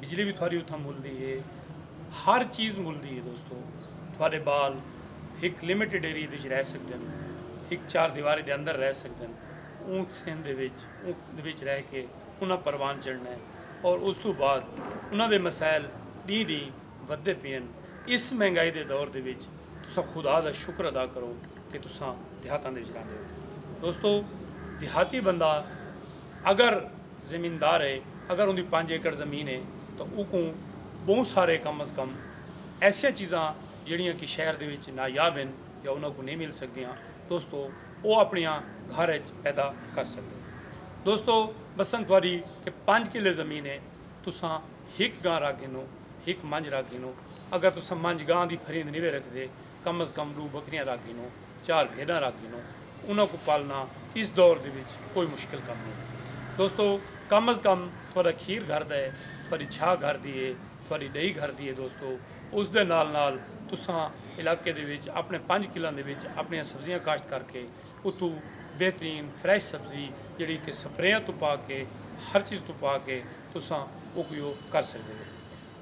بجلی وی تھواری اتھاں مل دی ہے۔ ہر چیز مل دی ہے دوستو۔ تھوارے بال ہک لمیٹڈ ایریے دے وچ رہ سکدن۔ ہک چار دیواری دے اندر رہ سکدن۔ اونکھ سندھ دے وچ اونکھ دے وچ رہ کے انہاں پروان چڑھنا ہے۔ اور اس توں بعد انہاں دے مسائل ڈینہہ ڈینہہ ودھدے پئے ہن۔ اس مہنگائی دے دور دے وچ تساں خدا دا شکر ادا کرو کہ تساں دیہاتاں دے وچ رہندے ہو۔ دوستو دیہاتی بندہ اگر۔ زمیندار ہے اگر اوندی پنج ایکڑ زمین ہے تاں اوکوں بہوں سارے کم از کم ایسیاں چیزاں جیڑھیاں کہ شہر دے وچ نایاب ہن یا انہاں کوں نئیں مل سگدیاں دوستو او اپنڑیاں گھر اچ پیدا کر سگدے دوستو بسنگ تہاڈی کہ پنج کلے زمین ہے تساں ہک گاں رکھ گھنو ہک منجھ رکھ گھنو اگر تساں منجھ گاں دی پھریند نوے رکھدے کم از کم ڈو بکریاں رکھ گھنو، چار بھیڈاں رکھ گھنو، انہاں کوں پالنا اس دور دے وچ کوئی مشکل کم نئیں۔ دوستو کم از کم تہاڈا کھیر گھر دا ہے، تہاڈی چھاہ گھر دی ہے، تہاڈی ڈئی گھر دی ہے دوستو اس دے نال نال تساں علاقے دے وچ اپنے پنج کلاں دے وچ اپنیاں سبزیاں کاشت کر کے اتھوں بہترین فریش سبزی جیڑھی کہ سپریاں توں پاک ہے ہر چیز توں پاک ہے تساں اوکوں کر سگدے ہو۔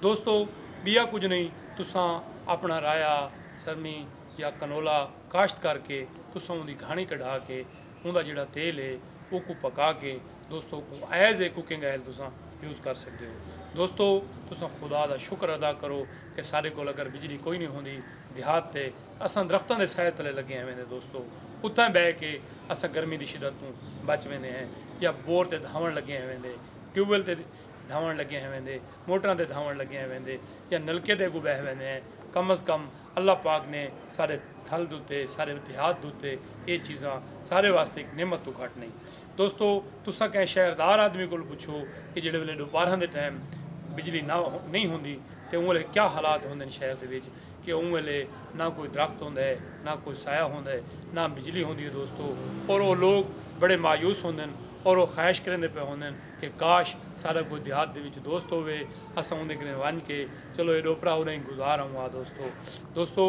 دوستو بیا کجھ نہیں تساں اپنا رایا سرمی یا کنولا کاشت کر کے تساں اوندی گھانی کڈھا کے اوندا جیڑا تیل ہے اوکوں پکا کے دوستو اوکوں ایز اے کوکنگ آئل تساں یوز کر سکدے ہو دوستو تساں خدا دا شکر ادا کرو کہ ساڈے کول اگر بجلی کوئی نہیں ہوندی دیہات تے اساں درختاں دے سائے تلے لگے ہویندے دوستو اتھاں بہ کے اساں گرمی دی شدت توں بچ ویندے ہیں یا بور تے دھاون لگے ہویندے ٹیوب ویل تے دھاوݨ لڳے ہیں ویندے موٹراں تے دھاوݨ لڳے ہیں ویندے یا نلکے دے اگوں ٻہہ ویندے ہیں کم از کم اللہ پاک نے سارے تھل دوتے سارے اتحاد دوتے اے چیزاں سارے واسطے ایک نعمت توں گھٹ نئیں دوستو تساں کہیں شہر دار آدمی کول پچھو کہ جیڑھے ویلے ڈوپارھاں دے ٹائم بجلی نہ نئیں ہوندی تے اوں ویلے کیا حالات ہوندن شہر دے وچ کہ اوں ویلے نہ کوئی درخت ہوندا ہے نہ کوئی سایہ ہوندا ہے نہ بجلی ہوندی ہے دوستو اور او لوگ بڑے مایوس ہوندن اور او خواہش کریندے پئے ہوندن کہ کاش ساڈا کوئی دیہات دے وچ دوست ہووے اساں اوندے کنے ونج کے چلو اے ڈو پرا اڈاہیں گزار آؤں آ دوستو دوستو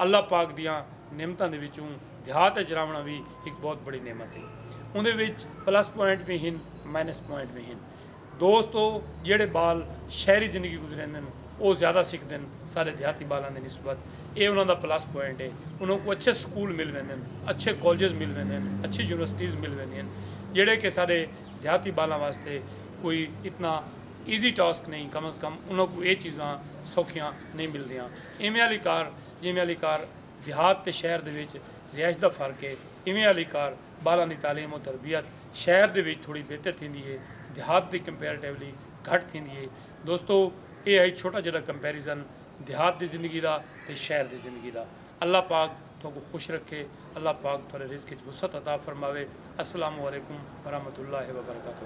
اللہ پاک دیاں نعمتاں دے وچوں دیہات اچ راونڑاں وی ہک بہت بڑی نعمت اے اوندے وچ پلس پوائنٹ وی ہن مائنس پوائنٹ وی ہن دوستو جیڑھے بال شہری زندگی گزریندن او زیادہ سکھدن ساڈے دیہاتی بالاں دی نسبت اے انہاں دا پلس پوائنٹ اے انہاں کوں اچھے سکول مل ویندن اچھے کالجز مل ویندن اچھی یونیورسٹیز مل ویندین جیڑھے کہ ساڈے دیہاتی ٻالاں واسطے کوئی اتنا ایزی ٹاسک نئیں کم از کم انہاں کوں اے چیزاں سوکھیاں نئیں ملدیاں ایویں آلی کار جیویں آلی کار دیہات تے شہر دے وچ رہائش دا فرق اے ایویں آلی کار ٻالاں دی تعلیم و تربیت شہر دے وچ تھوڑی بہتر تھیندی اے دیہات دی کمپیریٹیولی گھٹ تھیندی اے دوستو اے ہئی چھوٹا جڈا کمپیریزن دیہات دی زندگی دا تے شہر دی زندگی دا۔ اللہ پاک تہاکوں خوش رکھے اللہ پاک تہاڈے رزق اچ وسعت عطا فرماوے السلام علیکم ورحمت اللہ وبرکاتہ۔